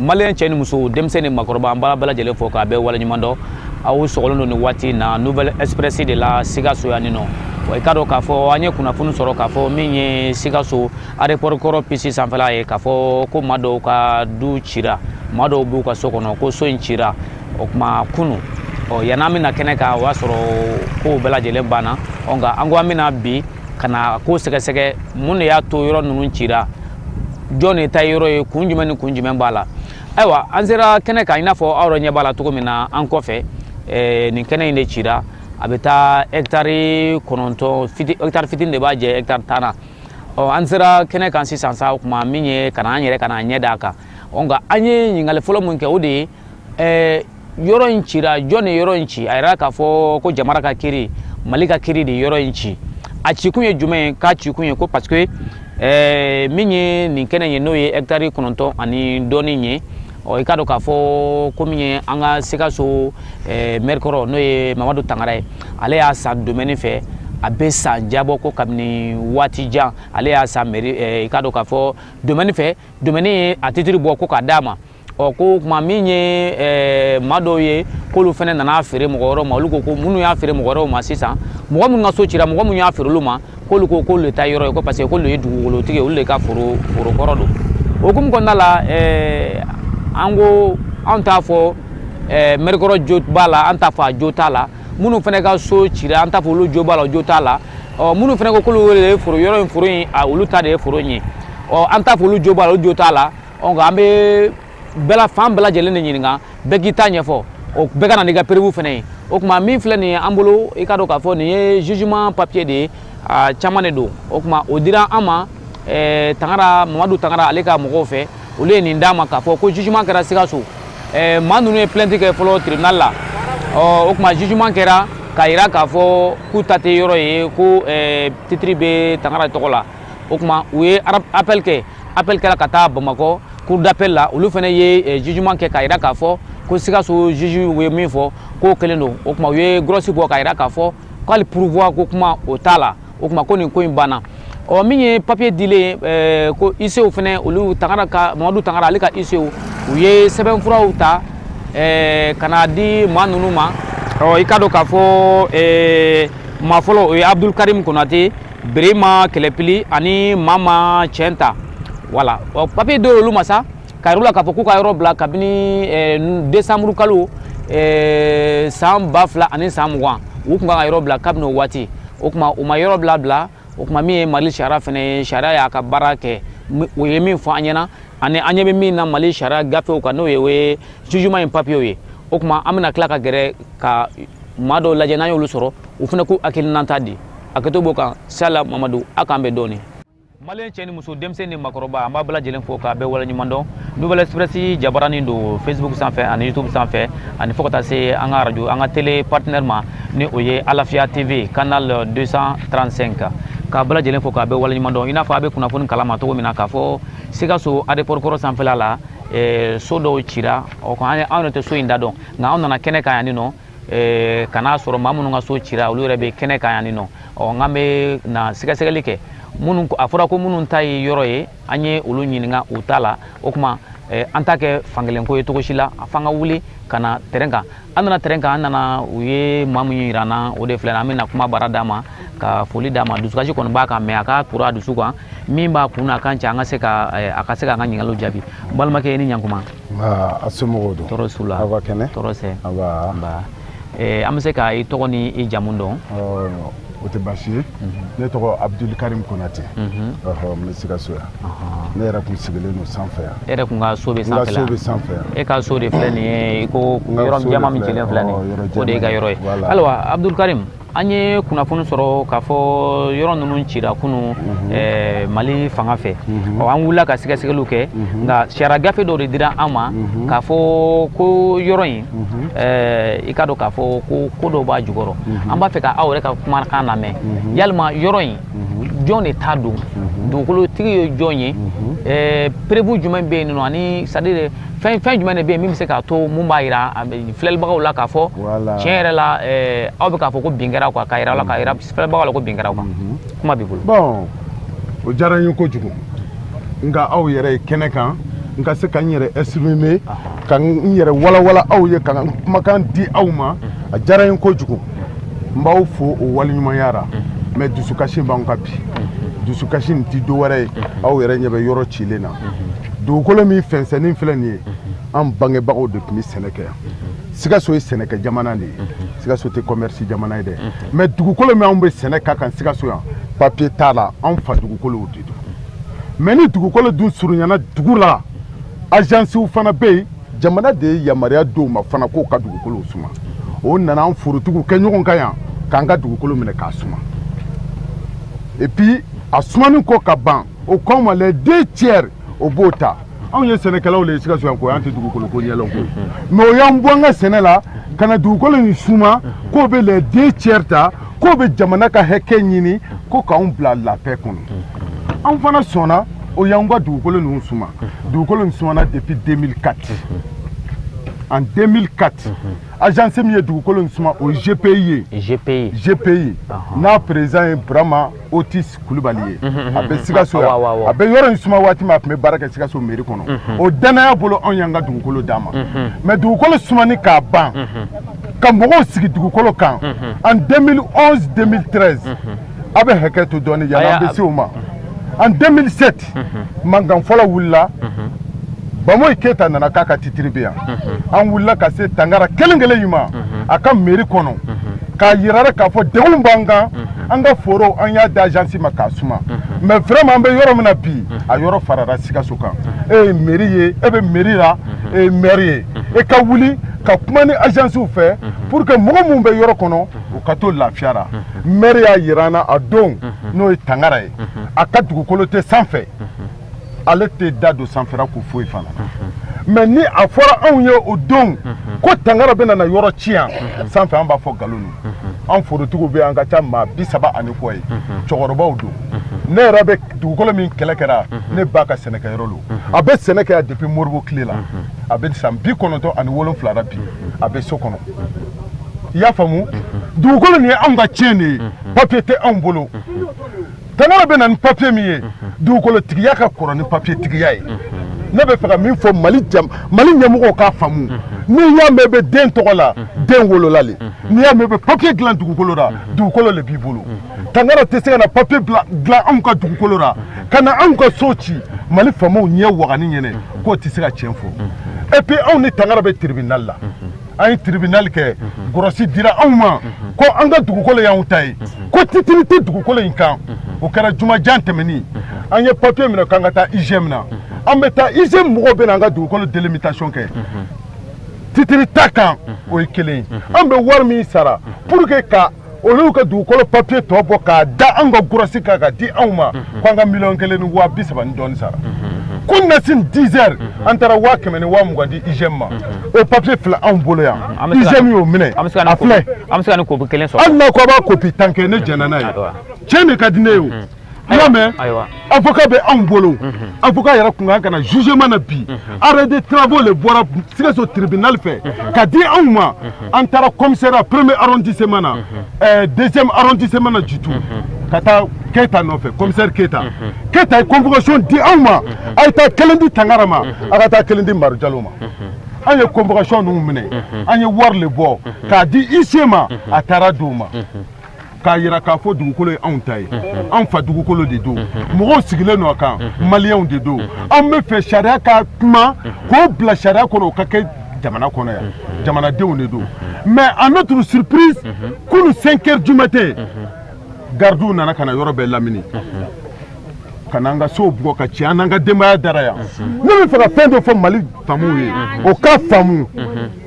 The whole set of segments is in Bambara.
maliyɛn cɛ ni muso denmisɛn ni makɔrɔba an b'a bɛɛ lajɛlen fo k'a bɛɛ waleɲuman dɔn aw sɔgɔlen don nin waati in na nouvelle express de la sikaso yan nin nɔ wa i k'a dɔn k'a fɔ an ye kunnafoni sɔrɔ k'a fɔ min ye sikaso aéroport kɔrɔ pisi sanfɛla ye k'a fɔ ko maa dɔw ka du cira maa dɔw b'u ka so kɔnɔ ko so in cira o tuma kunu ɔ yan'an bɛ na kɛnɛ kan o y'a sɔrɔ kow bɛɛ lajɛlen banna ɔ nka an ko an bɛ na bi ka na ko sɛgɛsɛgɛ mun de y'a to yɔrɔ ninnu cira jɔn de ta ye yɔrɔ ye kun jumɛn ni kun jumɛn b'a la ayiwa an sera kɛnɛ kan i n'a fɔ aw yɛrɛ ɲɛ b'a la cogo min na an kɔfɛ ɛɛ nin kɛnɛ in de cira a bɛ taa hɛkitari kɔnɔntɔn fiti hɛkitari fitini de b'a jɛ hɛkitari tan na ɔ an sera kɛnɛ kan sisan sa o tuma min ye ka na an yɛrɛ ka na ɲɛ d'a kan ɔ nka an ye ɲininkali fɔlɔ min kɛ o de ye ɛɛ yɔrɔ in cira jɔn de yɔrɔ in ci a jira k'a fɔ ko jamana ka kiri mali ka kiri de yɔrɔ in ci a cikun ye jumɛn ye k'a cikun ye ko parce que ɛɛ min ye nin kɛnɛ ye n'o ye hɛkitari kɔnɔntɔn ani dɔɔni ye ɔ i k'a dɔn k'a fɔ ko min ye an ka sikaso ɛɛ mɛrikɔrɔ n'o ye mamadu tangara ye ale y'a san domɛni fɛ a bɛ san jan bɔ ko kabini waati jan ale y'a san mɛri ɛɛ i k'a dɔn k'a fɔ domɛni fɛ domɛni ye a titiri bɔ ko k'a d'a ma ɔ ko o tuma min ye ɛɛ maa dɔw ye k'olu fana nan'a feere mɔgɔ wɛrɛw ma olu ko ko minnu y'a feere mɔgɔ wɛrɛw ma sisan mɔgɔ minnu ka so cira mɔgɔ minnu y'a feere olu ma k'olu ko k'olu de ta yɔrɔ ye ko parce que k'olu ye dugukolotigi ye olu de ka foro foro kɔrɔ don o hukumu kɔnɔna la ɛɛ an ko anw t'a fɔ ɛɛ mɛrikɔrɔ jo b'a la an t'a fɔ a jo t'a la minnu fana ka so cira an t'a fɔ olu jo b'a la o jo t'a la ɔ minnu fana ko k'olu de ye foro yɔrɔ in foro in a olu ta de ye foro in ye ɔ an t'a fɔ olu jo b'a la olu jo t'a la ɔ nka an bɛ fan bɛɛ lajɛlen de ɲininka bɛɛ k'i ta ɲɛfɔ o bɛɛ ka na n'i ka preuve fana ye o tuma min filɛ nin ye an bolo i ka dɔn k'a fɔ nin ye jugement papier de ye a caman de don o tuma o dira an ma eh, tangara mamadu tangara ale ka mɔgɔw fɛ olu ye nin d'an ma k'a fɔ ko jugement kɛra sikaso eh, maa ninnu ye plainte kɛ fɔlɔ tribunal la ɔ o tuma jugement kɛra k'a jira k'a fɔ k'u ta tɛ yɔrɔ ye ko eh, titiri bɛ tangara tɔgɔ la o tuma u ye appel kɛ appel kɛra ka taa bamakɔ cour d'appel la olu fana ye eh, jugement kɛ k'a jira k'a fɔ ko sikaso juge ye min fɔ k'o kelen don o tuma u ye grosse bɔ k'a jira k'a fɔ k'ale pourvoi ko kuma o t'a la o tuma ko nin ko in banna ɔ min ye papier dilen eh, ko huissierw fana olu tangara ka mamadu tangara ale ka huissierw u ye sɛbɛnfuraw ta eh, ka na di maa ninnu ma ɔ i ka dɔn k'a fɔ maa fɔlɔ o ye abdul karim konate birima kɛlɛpili ani mama cɛnta voilà ɔ papiye dɔw olu ma sa ka yir'u la k'a fɔ k'u ka yɔrɔ bila kabini eh, desanburu kalo eh, san ba fila ani san mugan u tun kan ka yɔrɔ bila kabini o waati o tuma u ma yɔrɔ bila bila o tuma min ye mali sariya fana ye sariya y'a ka baara kɛ o ye min fɔ an ɲɛna ani an ɲɛ bɛ min na mali sariya gafew kan n'o ye o ye jugement in papiyew ye o tuma an bɛna tila ka gɛrɛ ka maa dɔw lajɛ n'an y'olu sɔrɔ u fana k'u hakilinata di hakɛto b'o kan sala mamadu a k'an bɛn dɔɔni maliyɛn cɛ ni muso denmisɛn ni makɔrɔba an b'a bɛɛ lajɛlen fo k'a bɛɛ waleɲuman dɔn nouvelle express jabaranin don facebook sanfɛ ani youtube sanfɛ ani fo ka taa se an ka radio an ka tele partenaire ma ni o ye alafiya tv canal 235 k'a bɛɛ lajɛlen fo k'a bɛɛ waleɲuman dɔn i n'a fɔ a bɛ kunnafoni kalama cogo min na k'a fɔ sikaso aéroport kɔrɔ sanfɛla la eh, so dɔw cira o ko anw yɛrɛ tɛ so in da dɔn nka anw nana kɛnɛ kan yanni nɔ eh, ka n'a sɔrɔ maa minnu ka so cira olu yɛrɛ bɛ kɛnɛ kan yanni nɔ ɔ nka an bɛ na sɛgɛsɛgɛli kɛ minnu a fɔra ko minnu ta ye yɔrɔ ye an ye olu ɲininka u ta la o tuma eh, an t'a kɛ fankelen ko ye cogo si la f'an ka wuli ka na tɛrɛn kan an nana tɛrɛn kan an nana u ye maa min yira an na o de filɛ an bɛna kumabara d'a ma ka foli d'a ma dusukasi kɔni b'a kan mɛ a k'a turu a dusu kan min b'a kun na a kan cɛ an ka se ka eh, a ka se k'an ka ɲininkaliw jaabi balimakɛ i ni ɲankuma a somɔgɔw don tɔɔrɔ s'u la aw ka kɛnɛ tɔɔrɔ sɛ an bɛ se ka i tɔgɔ ni i jamu dɔn o tɛ baasi ye ne tɔgɔ abuduli karim konate n bɛ sikaso yan ne yɛrɛ tun sigilen don sanfɛ yan e yɛrɛ tun ka so bɛ sanfɛ so bɛ sanfɛ yan e ka so de filɛ nin ye i ko yɔrɔ jɛman min jɛlen filɛ nin ye o de y'e ka yɔrɔ ye ayiwa abuduli karim an ye kunnafoni sɔrɔ k'a fɔ yɔrɔ ninnu cira kunun mali fanga fɛ ɔ an wulila ka sɛgɛsɛgɛliw kɛ nka sariya gafe dɔw de dira an ma k'a fɔ ko yɔrɔ in mhm. eh, i k'a dɔn k'a fɔ ko dɔw b'a jukɔrɔ mhm. an b'a fɛ ka aw yɛrɛ ka kumakan lamɛn mhm. yalima yɔrɔ in jɔn de ta don dugukolotigi ye jɔn ye eh, preuve jumɛn bɛ yen nɔ ani c'est-à-dire fɛn jumɛn de bɛ yen min bɛ se k'a to mun b'a jira filɛlibagaw la k'a fɔ tiɲɛ yɛrɛ la eh, aw bɛ k'a fɔ ko bin kɛra quoi k'a jira aw la k'a jira filɛlibagaw la ko bin kɛra quoi kuma b'i bolo. bɔn o diyara n ye kojugu n k'aw yɛrɛ ye kɛnɛ kan n ka se ka n yɛrɛ exprimer ka n yɛrɛ walawala aw ye ka n kumakan di aw ma a diyara n ye kojugu n b'aw fo o waleɲumanya ra mɛ dusukasi b'an kan bi dusukasi nin ti dowɛrɛ ye aw yɛrɛ ɲɛ bɛ yɔrɔ cilen na dugukolo min fɛnsɛnnin filɛ nin ye an bangebagaw de tun bɛ sɛnɛ kɛ yan sikaso ye sɛnɛkɛ jamana de ye sikaso tɛ kɔmɛrisi jamana ye dɛ mɛ dugukolo min anw bɛ sɛnɛ k'a kan sikaso yan papiye t'a la anw fa dugukolow de don mɛ ni dugukolo dun surunyana dugu la ajansiw fana bɛ yen jamana de ye yamaruya d'u ma fana k'o ka dugukolow suma o nana an forotigiw kɛ ɲɔgɔn kan yan k'an ka dugukolo minɛ k'a suma et puis a sumani kɔ ka ban o k'anw ma les deux tiers o b'o ta anw ye sɛnɛkɛlaw le ye sikaso yan ko an tɛ dugukolo ko ɲɛlɔn ko mais o y'an bɔ an ka sɛnɛ la ka na dugukolo in suma k'o bɛ les deux tiers ta k'o bɛ jamana ka hakɛ ɲini ko k'anw bila la paix kɔnɔ anw fana sɔnna o y'anw ka dugukolo ninnu suma dugukolo nin sumana depuis 2004 en 2004 agence min ye dugukolo nin suma o ye GPI ye GPI n'a président ye Burama Otis Kulubali ye a bɛ Sikaso yan a bɛ yɔrɔ in suma waati min a tun bɛ baara kɛ Sikaso mairie kɔnɔ o danaya bolo anw y'an ka dugukolo d'a ma mais dugukolo sumani k'a ban ka mɔgɔw sigi dugukolo kan en 2011 2013 a bɛ hakɛ to dɔɔnin yani an bɛ se o ma en 2007 mankan fɔlɔ wulila bamoyi keyita nana k'a ka titiri bɛ yan an wulila ka se tangara kelen kelen in ma a ka meri kɔnɔ k'a yira a ra k'a fɔ degun b'an kan an ka foro an y'a di agence ma k'a suma mais vraiment an bɛ yɔrɔ min na bi a yɔrɔ farara sikaso kan e ye meri ye e bɛ meri la e ye maire ye e ka wuli ka kuma ni agencew fɛ pour que mɔgɔ minnu bɛ yɔrɔ kɔnɔ u ka to lafiya la maire y'a yira an na a don n'o ye tangara ye a ka dugukolo tɛ sanfɛ ale tɛ da don sanfɛra ko foyi fana mais ni a fɔra anw ye o don ko tangara bɛna na yɔrɔ ci yan sanfɛ an b'a fɔ nkalon ni an forotigiw bɛɛ an ka ca maa bi saba ani kɔ ye cɛkɔrɔbaw don ne yɛrɛ bɛ dugukolo min kɛlɛ kɛra ne ba ka sɛnɛkɛyɔrɔ don a bɛ sɛnɛ kɛ yan depuis modibo tile la a bɛ san bi kɔnɔntɔn ani wolonwula la bi a bɛ so kɔnɔ i y'a faamu dugukolo nin ye anw ka tiɲɛ de ye papiye tɛ anw bolo tangara bɛ na ni papiye min ye dugukolo tigiya ka kɔrɔ ni papiye tigiya ye ne bɛ fɛ ka min fɔ mali ɲɛmɔgɔw k'a faamu n'i y'a mɛn bɛ den tɔgɔ la den wolola le n'i y'a mɛn bɛ papiye dilan dugukolo la dugukolo le b'i bolo tangara tɛ se ka na papiye dilan anw ka dugukolo la ka na anw ka so ci mali faamaw ɲɛ wagani ɲɛnɛ k'o tɛ se ka tiɲɛ fɔ et puis anw ni tangara bɛ tribunal la an ye tribunal kɛ gɔrɔsi dira anw ma ko an ka dugukolo y'anw ta ye ko titiri tɛ dugukolo in kan o kɛra jumajan tɛmɛni an ye papiye minɛ k'an ka taa IGM na an bɛ taa IGM mɔgɔw bɛ na an ka dugukolo délimitation kɛ titiri t'a kan o ye kelen ye an bɛ wari min sara pour que ka olu ka dugukolo papiye tɔ bɔ k'a da anw ka gɔrɔsi kan ka di anw ma mhm. ko an ka miliyɔn kelen ni waa bi saba ni dɔɔni sara mhm. kunasini dix heures mhm. an taara waa kɛmɛ ni waa mugan di IGM ma o papiye filɛ anw bolo yan IGM y'o minɛ a filɛ hali n'a ko a b'a kopi tan kɛ ne jɛnna n'a ye tiɲɛ de ka di ne ye o i y'a mɛn ayiwa avocat bɛ anw bolo avocat yɛrɛ kun kan ka na jugement na bi arrêt de travaux le bɔra sikaso tribunal fɛ ka di anw ma an taara commissariat premier arrondissement na ɛɛ deuxième arrondissement na jitu ka taa keyita nɔfɛ commissaire keyita keyita ye convocation di anw ma a ye taa kelen di tangara ma a ka taa kelen di maru jalo ma an ye convocation ninnu minɛ an ye wari le bɔ k'a di huissier ma a taara di u ma k'a yira k'a fɔ dugukolo ye anw ta ye anw fa dugukolo de don mɔgɔw sigilen don a kan maliyɛnw de don anw bɛ fɛ sariya ka kuma k'o bila sariya kɔnɔ o ka kɛ jamana kɔnɔ yan jamanadenw de don mais à notre surprise kunu 5 heures du matin gardiw nana ka na yɔrɔ bɛɛ lamini ka n'an ka sow bugɔ ka ci an n'an ka denbaya dara yan ne bɛ fɛ ka fɛn dɔ fɔ mali faamaw ye o ka faamu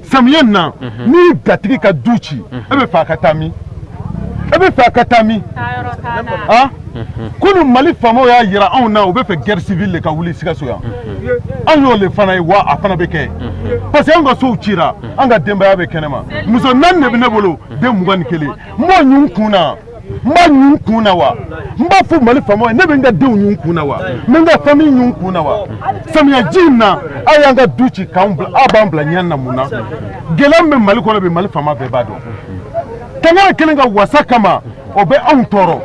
samiya in na mhm. n'i gatigi ka du ci mhm. e bɛ fɛ a ka taa min e bɛ fɛ a ka taa min ah? mhm. kunu mali faamaw y'a yira anw na u bɛ fɛ guerre civile de ka wuli sikaso yan an y'o le fana ye wa a fana bɛ kɛ parce que an ka sow cira an ka denbaya bɛ kɛnɛma muso naani de bɛ ne bolo den mugan ni kelen n b'o ɲun kun na n b'a ɲun kun na wa n b'a fɔ mali faamaw ye ne bɛ n ka denw ɲun kun na wa n bɛ n ka famille ɲun kun na wa samiyaji in na aw y'an ka du ci k'an bila aw b'an bila ɲɛ na mun na gɛlɛya min bɛ mali kɔnɔ bi mali faama bɛɛ b'a dɔn tangara kelen ka wasa kama o bɛ anw tɔɔrɔ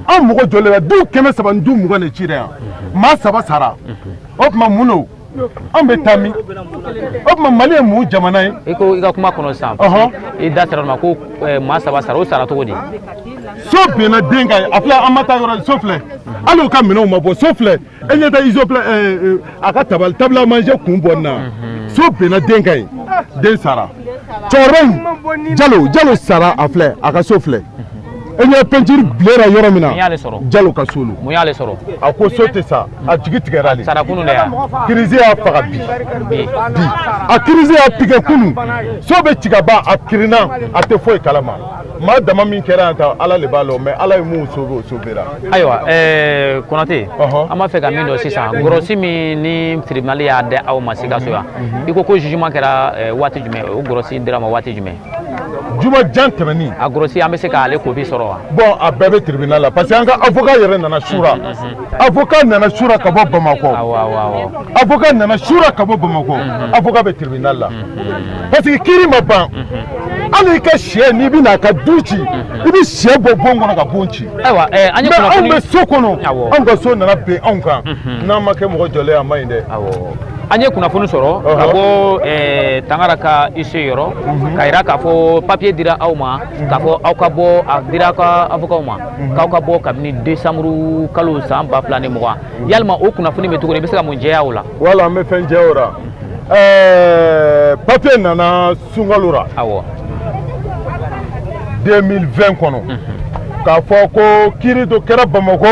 an mɔgɔ jɔlen na du kɛmɛ saba ni du mugan de cira yan maa saba sara o tuma mun don anw bɛ taa min o tuma mali ye mun jamana ye i ko i ka kuma kɔnɔ sisan i da sera a ma ko eh, maa saba sara o sara cogo di so binna den kan a filɛ an ma taa yɔrɔ so filɛ hali u ka minɛnw ma bɔ so filɛ e ɲɛ tɛ izo filɛ eh, eh, a ka tabali table à manger kun bɔ nin na mhm. so binna den kan yen den sara cɛkɔrɔba in jalo jalo sara a filɛ a ka so filɛ e ɲɛ peinture bilera yɔrɔ min na mun y'ale sɔrɔ jalo ka so don mun y'ale sɔrɔ a ko so tɛ sa a jigi tigɛra de sara kunu de crise y'a faga bi bi a crise y'a piquer kunu so bɛ ci ka ban a kirinna a tɛ foyi kalama maa dama min kɛra yan ta ala de b'a lɔn mais ala ye min sauver o sauvera ayiwa eh, konate an b'a fɛ ka min dɔn sisan gɔrɔsi min ni tribunali y'a di aw ma sikaso yan mhm. i ko ko jugement kɛra eh, waati jumɛn o gɔrɔsi dira ma waati jumɛn juma jan tɛmɛnin a gɔrɔsi an bɛ se k'ale copie sɔrɔ wa bon a bɛɛ bɛ tribunal la parce que an ka avocat yɛrɛ nana sura avocat nana sura ka bɔ bamakɔ avocat nana sura ka bɔ bamakɔ avocat bɛ tribunal la parce que kiri ma ban hali i ka shɛ n'i bɛ n'a ka du ci i bɛ shɛ bɔ bon kɔnɔ ka bon ci mais anw bɛ so kɔnɔ anw ka so nana bin anw kan n'an ma kɛ mɔgɔ jɔlen a man ɲi dɛ an ye kunnafoni sɔrɔ ka bɔ eh, tangara ka huissier yɔrɔ mhm. k'a yira k'a fɔ papiye dira aw ma mhm. k'a fɔ aw ka bɔ a dira aw ka avokaw ma mhm. k'aw ka bɔ kabini desanburu kalo san ba fila ni mugan yalima o kunnafoni bɛ cogo di i bɛ se ka mun jɛya o la wala an bɛ fɛn jɛya o la eh, papiye nana sunkalo ra awɔ 2020 kɔnɔ k'a fɔ ko kiri dɔ kɛra bamakɔ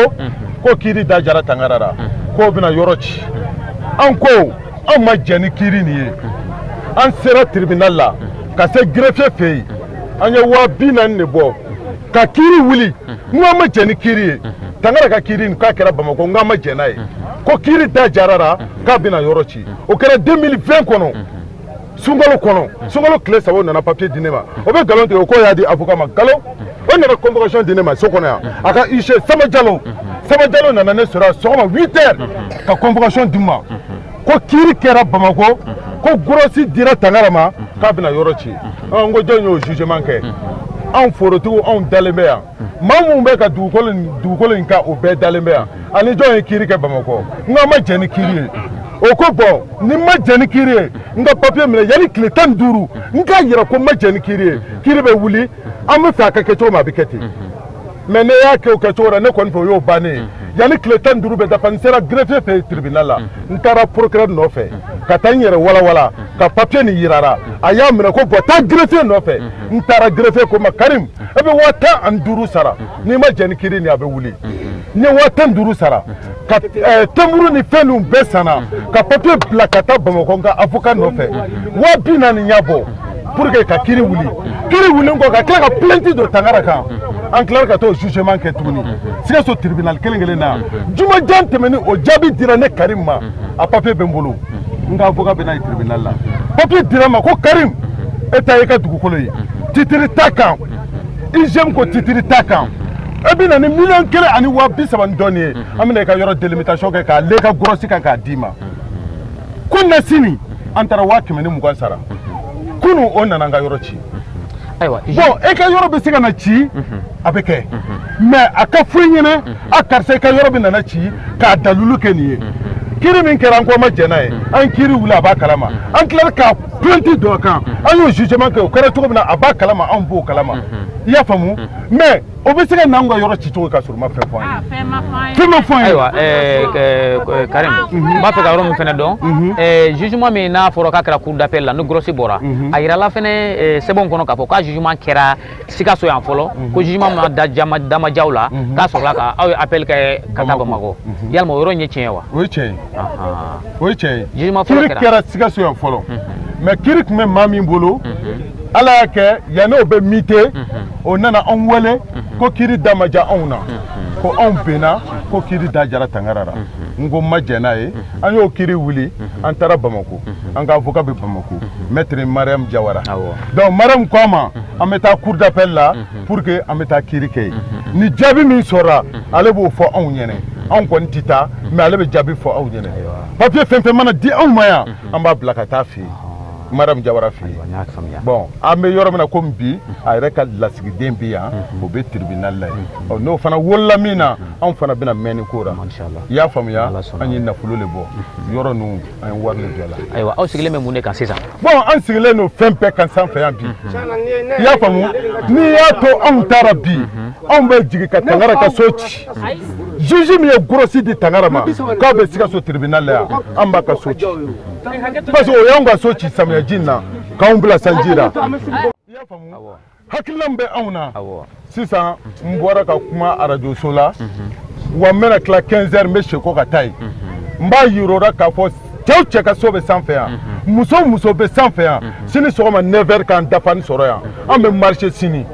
ko kiri da diyara tangara la k'o bɛna yɔrɔ ci an ko an ma jɛ ni kiri nin ye an sera tribunal la ka se greffier fɛ yen an ye waa bi naani de bɔ ka kiri wuli n ko an ma jɛ ni kiri ye tangara ka kiri nin k'a kɛra bamakɔ n ko an ma jɛ n'a ye ko kiri da diyara a la k'a bɛna yɔrɔ ci o kɛra 2020 kɔnɔ sunkalo kɔnɔ sunkalo tile saba nana papier di ne ma o bɛ nkalon tigɛ o k'o y'a di avocat ma nkalon o nana convocation di ne ma so kɔnɔ yan a ka huissier sama jalo sama jalo nana ne sɔrɔ sɔgɔma 8 heures ka convocation di n ma ko kiiri kɛra bamakɔ ko gɔrɔsi dira tangara ma k'a bɛna yɔrɔ ci n ko jɔn y'o jugement kɛ anw forotigiw anw dalen bɛ yan maa minnu bɛ ka dugukolo in kan o bɛɛ dalen bɛ yan ani jɔn ye kiiri kɛ bamakɔ n k'an ma jɛ ni kiiri ye o ko bon ni n ma jɛ ni kiiri ye n ka papiye minɛ yanni tile tan ni duuru n k'a yira ko n ma jɛ ni kiiri ye kiiri bɛ wuli an bɛ fɛ a ka kɛ cogo min a bɛ kɛ ten mais ne y'a kɛ o kɛ cogo la ne kɔni fɛ o y'o bannen ye yanni tile tan ni duuru bɛ dafa n sera greffier fɛ yen tribunal la n taara procureur nɔfɛ ka taa n yɛrɛ walawala ka papiye nin yira a ra a y'a minɛ ko bon taa greffier nɔfɛ n taara greffier ko n ma karim e bɛ waa tan ani duuru sara n'i ma jɛ ni kiiri nin a bɛ wuli n ye waa tan duuru sara ka eh, tɛnburu ni fɛn ninnu bɛɛ sanna ka papiye bila ka taa bamakɔ n ka avoka nɔfɛ waa bi naani n y'a bɔ pour que ka kiri wuli kiri wulen kɔ ka tila ka plainte don tangara kan an tilara ka t'o jugement kɛ tuguni sikaso tribunal kelen kelen na juma jan tɛmɛni o jaabi dira ne karim ma a papiye bɛ n bolo n ka avoka bɛ n'a ye tribunal la papiye dira n ma ko karim e ta ye i ka dugukolo ye titiri t'a kan IGM ko titiri t'a kan e bɛ na ni miliyɔn kelen ani waa bi saba ni dɔɔni ye an bɛna i ka yɔrɔ delimitasiyɔn kɛ k'a l'e ka gɔrɔsi kan k'a d'i ma ko na sini an taara waa kɛmɛ ni mugan sara kunu o nana n ka yɔrɔ ci ayiwa bon e ka yɔrɔ bɛ se ka na ci a bɛ kɛ mais a ka fɔ i ɲɛna a karisa i ka yɔrɔ bɛna na ci k'a dalulu kɛ nin ye kiri min kɛra an ko an ma jɛn n'a ye an kiri wuli a b'a kalama an tilala ka plainte don a kan an y'o jugement kɛ o kɛra cogo min na a b'a kalama anw b'o kalama i y'a faamu mais o bɛ se ka n'anw ka yɔrɔ ci cogo ka sɔrɔ u ma fɛn fɔ an ye fɛn ma fɔ an ye ayiwa Karim n b'a fɛ ka yɔrɔ min fɛnɛ dɔn jugement min n'a fɔra k'a kɛra cour d'appel la ni gɔrɔsi bɔra a yirala fɛnɛ sɛbɛnw kɔnɔ k'a fɔ k'a jugement kɛra sikaso yan fɔlɔ mhm. ko jugement da ma ja aw la mhm. k'a sɔrɔla ko aw ye appel kɛ ka taa bamakɔ mhm. yalima o yɔrɔ in ye tiɲɛ wa o ye tiɲɛ ye o ye tiɲɛ ye jugement fɔlɔ kɛra kiri kɛra sikaso yan fɔlɔ mais kiri tun bɛ maa min bolo ala y'a kɛ yanni o bɛ muté o nana anw wele ko kiri da ma ja anw na ko anw binna ko kiri da jara tangara la n ko n ma jɛn n'a ye an y'o kiri wuli an taara bamako an ka avoka bɛ bamako maître mariam jawara donc mariam ko an ma an bɛ taa cour d'appel la pour que an bɛ taa kiiri kɛ yen ni jaabi min sɔrɔla ale b'o fɔ anw ɲɛnɛ anw kɔni tɛ taa mais ale bɛ jaabi fɔ aw ɲɛnɛ papier fɛn o fɛn mana di anw ma yan an b'a bila ka taa fɛ yen madame jawara fɛ yen bon an bɛ yɔrɔ min na komi bi a yɛrɛ ka lasigiden bɛ yan o bɛ tribunal la yen ɔ n'o fana wolola min na anw fana bɛna mɛn nin ko la i y'a faamuya an ye nafolo de bɔ yɔrɔ ninnu an ye wari min bɛɛ la ayiwa aw sigilen bɛ mun de kan sisan bon an sigilen don fɛn bɛɛ kan sanfɛ yan bi i y'a faamu n'i y'a to anw ta ra bi anw bɛ jigin ka tangara ka so ci juge min ye grosse di tangara ma k'a bɛ sikaso tribunal la yan an b'a ka so ci parce que o y'anw ka so ci samiyaji in na k'anw bila sanji la i y'a faamu hakilina min bɛ anw na sisan n bɔra ka kuma arajoso la mhm. wa n bɛna tila 15 heures n bɛ sekɔ ka taa yen mhm. n b'a yira u ra k'a fɔ cɛ o cɛ ka so bɛ sanfɛ yan mhm. muso o muso bɛ sanfɛ yan sini sɔgɔma 9 heures k'an dafanin sɔrɔ yan an bɛ marché sini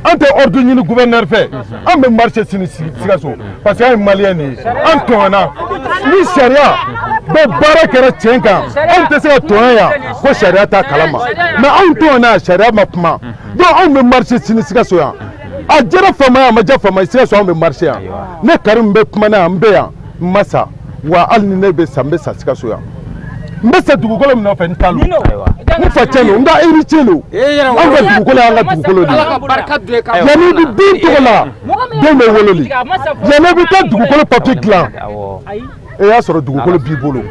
an tɛ ordre ɲini gouverneur fɛ an bɛ marché sini sikaso parce que an ye maliyɛn de ye an tɔɲɔna ni sariya bɛ baara kɛra tiɲɛ kan anw tɛ se ka tɔɲɔ yan ko sariya t'a kalama mais anw tɔɲɔna sariya ma kuma donc anw bɛ marché sini sikaso yan a jara faama ye a ma ja faama ye sikaso anw bɛ marché yan ne karimu bɛ kuma na yan n bɛ yan n ma sa wa hali ni ne bɛ sa n bɛ sa sikaso yan n bɛ sa dugukolo min nɔfɛ n ta lo n fa cɛn lo n ka héritier lo an ka dugukolo y'an ka dugukolo de ye yanni i bɛ den tɔgɔ la den bɛ wolo le yanni i bɛ taa dugukolo papier dilan e y'a sɔrɔ dugukolo b'i bolo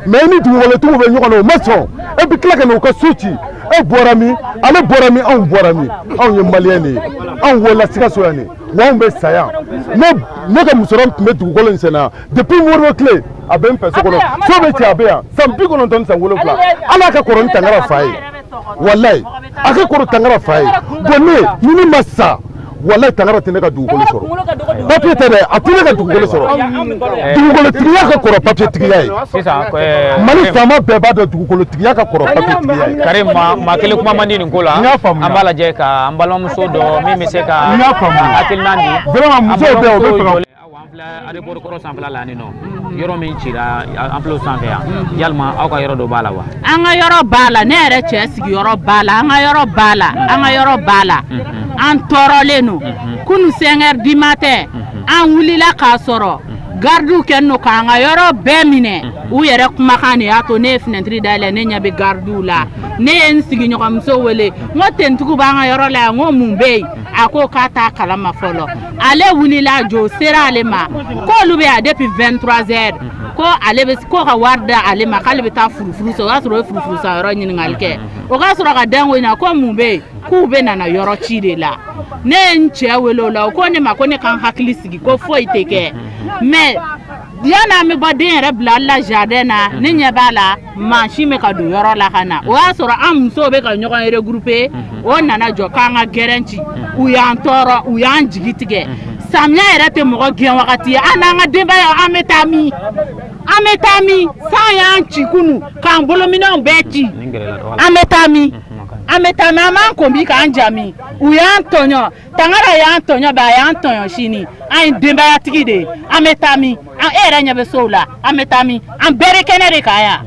mais i ni dugukolotigiw bɛ ɲɔgɔn na o ma sɔn e bɛ tila ka na u ka so ci e bɔra min ale bɔra min anw bɔra min anw ye maliyɛn de ye anw wolola sikaso yan de wa anw bɛ sa yan ne ne ka musokɔrɔba tun bɛ dugukolo in sɛnɛ depuis modibo tile a bɛ n fɛ so kɔnɔ so bɛ cɛ a bɛ yan san bi kɔnɔntɔn ni san wolonwula ale ka kɔrɔ ni tangara fa ye walayi a ka kɔrɔ tangara fa ye bon ne ni n ma sa walayi tangara tɛ ne ka dugukolo sɔrɔ papier tɛ dɛ a tɛ ne ka dugukolo sɔrɔ dugukolotigiya ka kɔrɔ papier tigiya ye mali faama bɛɛ b'a dɔn dugukolotigiya ka kɔrɔ papiye tigiya ye. karimu maa kelen kuma man di nin ko la an b'a lajɛ ka an balimamuso so dɔ min bɛ se ka hakilina di vraiment musow bɛ o bɛ fɛ ka aéroport kɔrɔ sanfɛla la ni nɔ yɔrɔ min cira an filɛ sanfɛ yan yalima aw ka yɔrɔ dɔ b'a la wa an ka yɔrɔ b'a la ne yɛrɛ cɛ sigiyɔrɔ b'a la an ka yɔrɔ b'a la an ka yɔrɔ b'a la an tɔɔrɔlen don kunu 5 heures du matin an wulila k'a sɔrɔ gardiw kɔnna k'an ka yɔrɔ bɛɛ minɛ u yɛrɛ kumakan de y'a to ne ye finɛtiri dayɛlɛ ne ɲɛ bɛ gardiw la ne ye n sigiɲɔgɔnmuso wele n ko finitigiw b'an ka yɔrɔ la yan n ko mun bɛ yen a ko k'a t'a kalama fɔlɔ ale wulila dɔ sera ale ma k'olu bɛ yan depuis 23 heures ko ale bɛ ko ka wari di ale ma k'ale bɛ taa furufuru san o y'a sɔrɔ o ye furufuru san yɔrɔ ɲininkali kɛ o ka sɔrɔ ka da ko in na ko mun bɛ yen k'u bɛ nana yɔrɔ ci de la ne ye n cɛ wele o la o ko ne ma ko ne ka n hakili sigi ko foyi tɛ kɛ mais yann'an bɛ bɔ den yɛrɛ bila la jardin na ne ɲɛ b'a la mansin bɛ ka don yɔrɔ la ka na o y'a sɔrɔ an musow bɛ ka ɲɔgɔn regrouper mhm. o nana jɔ k'an ka gɛrɛn ci mhm. u y'an tɔɔrɔ u y'an jigi tigɛ mhm. samiya yɛrɛ tɛ mɔgɔ gɛn wagati ye an n'an ka denbaya an bɛ taa min an bɛ taa min san y'an ci kunu k'an bolominɛnw bɛɛ ci an bɛ taa min an bɛ taa min an b'an ko min k'an ja min u y'an tɔɲɔ tangara y'an tɔɲɔ bɛ a y'an tɔɲɔ sini an ye denbayatigi de ye an bɛ taa min an e yɛrɛ ɲɛ bɛ sow la an bɛ taa min an bɛɛ bɛ kɛnɛ de kan yan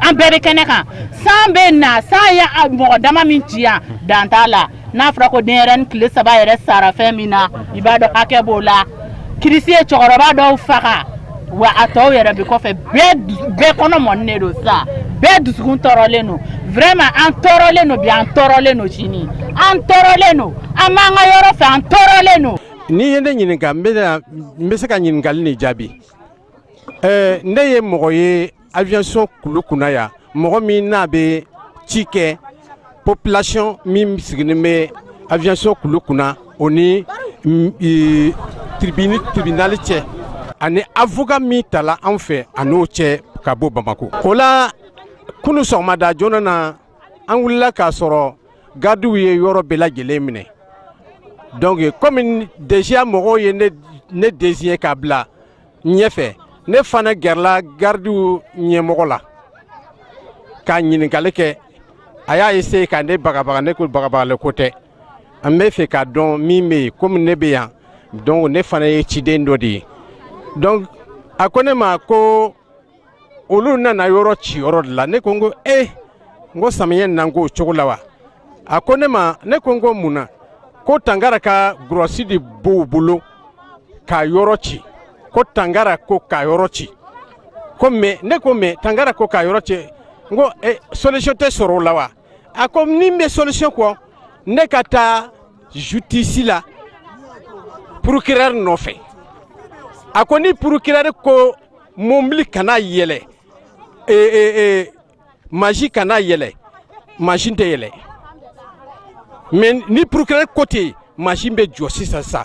an bɛɛ bɛ kɛnɛ kan san bɛ na san ye mɔgɔ dama min ci yan dan t'a la n'a fɔra ko denyɛrɛnin tile saba yɛrɛ sara fɛn min na i b'a dɔn hakɛ b'o la kirisi ye cɛkɔrɔba dɔw faga wa a tɔw yɛrɛ bɛ kɔfɛ bɛɛ kɔnɔ mɔnen don sa bɛɛ dusukun tɔɔrɔlen don vraiment an tɔɔrɔlen don bi an tɔɔrɔlen don sini an tɔɔrɔlen don an b'an ka yɔrɔ fɛ an tɔɔrɔlen don. n'i ye ne ɲininka n bɛ se ka ɲininkali nin jaabi ɛɛ ne ye mɔgɔ ye aviation kulu kunna yan mɔgɔ min n'a bɛ ci kɛ population min sigilen bɛ aviation kulu kunna o ni mm, tribune tribunal cɛ ani avocat min tala an fɛ a n'o cɛ ka bɔ bamako o la kunu sɔgɔmada joona na an wulila k'a sɔrɔ gardiw ye yɔrɔ bɛɛ lajɛlen minɛ donc komi deja mɔgɔw ye ne ne désigné k'a bila ɲɛfɛ ne fana gɛrɛla garidiw ɲɛmɔgɔ la k'a ɲininkali kɛ a y'a essayer ka ne bagabaga ne ko bagabagali ko tɛ an b'a fɛ k'a dɔn min bɛ yen komi ne bɛ yan donc ne fana ye ciden dɔ de ye donc a ko ne ma ko olu nana yɔrɔ ci yɔrɔ de la ne ko n ko e eh, n ko samiyɛ nan k'o cogo la wa a ko ne ma ne ko n ko mun na ko tangara ka gurɔsi de b'u bolo ka yɔrɔ ci ko tangara ko ka yɔrɔ ci ko mais ne ko mais tangara ko ka yɔrɔ ci n ko e eh, solution tɛ sɔrɔ o la wa a ko ni n bɛ solution kɔ ne ka taa jutisi la procureur nɔfɛ a ko ni procureur ko mobili kana yɛlɛ e, e, e, masin kana yɛlɛ masin tɛ yɛlɛ mais ni procureur ko ten masin bɛ jɔ sisan sisan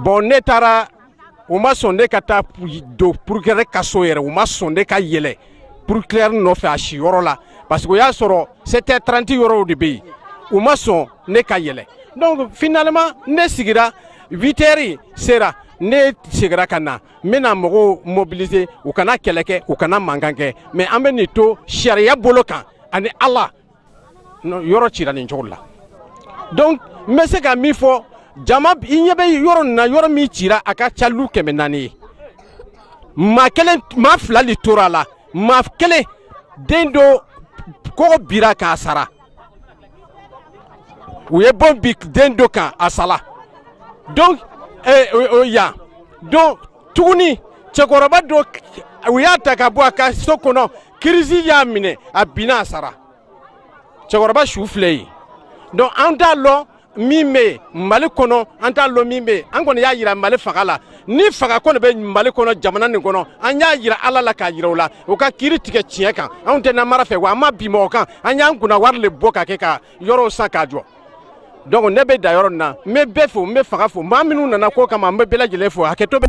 bon ne taara u ma sɔn ne ka taa don procureur ka so yɛrɛ u ma sɔn ne ka yɛlɛ procureur nɔfɛ a si yɔrɔ la parce que o y'a sɔrɔ 7h30 yɔrɔw de bɛ yen u ma sɔn ne ka yɛlɛ donc finalement ne sigira 8h sera ne segira ka na n bɛna mɔgɔw mobiliser u kana kɛlɛ kɛ u kana mankan kɛ mais an bɛ nin to sariya bolo kan ani ala yɔrɔ cira nin cogo la donc n bɛ se ka min fɔ jama i ɲɛ bɛ yɔrɔ nin na yɔrɔ min cira a ka ca lu kɛmɛ naani ye maa kelen maa fila de tora a la maa kelen den dɔ kogo bira a kan a sara u ye bon bi den dɔ kan a sala donc eh, o, o yan donc tuguni cɛkɔrɔba dɔ u y'a ta ka bɔ a ka so kɔnɔ kirisi y'a minɛ a binna a sara cɛkɔrɔba su filɛ yen donc an t'a lɔn min bɛ yen mali kɔnɔ an t'a lɔn min bɛ yen an kɔni y'a yira mali fanga la ni fanga kɔni bɛ mali kɔnɔ jamana nin kɔnɔ an y'a yira ala la k'a yira u la u ka kiiri tigɛ tiɲɛ kan anw tɛ namara fɛ wa an ma bi mɔgɔ kan an y'an kunna wari le bɔ ka kɛ ka yɔrɔw san k'a jɔ donc ne bɛ dan yɔrɔ nin na n bɛ bɛɛ fo n bɛ fanga fo maa minnu nana ko kama n bɛ bɛɛ lajɛlen fo hakɛto bɛ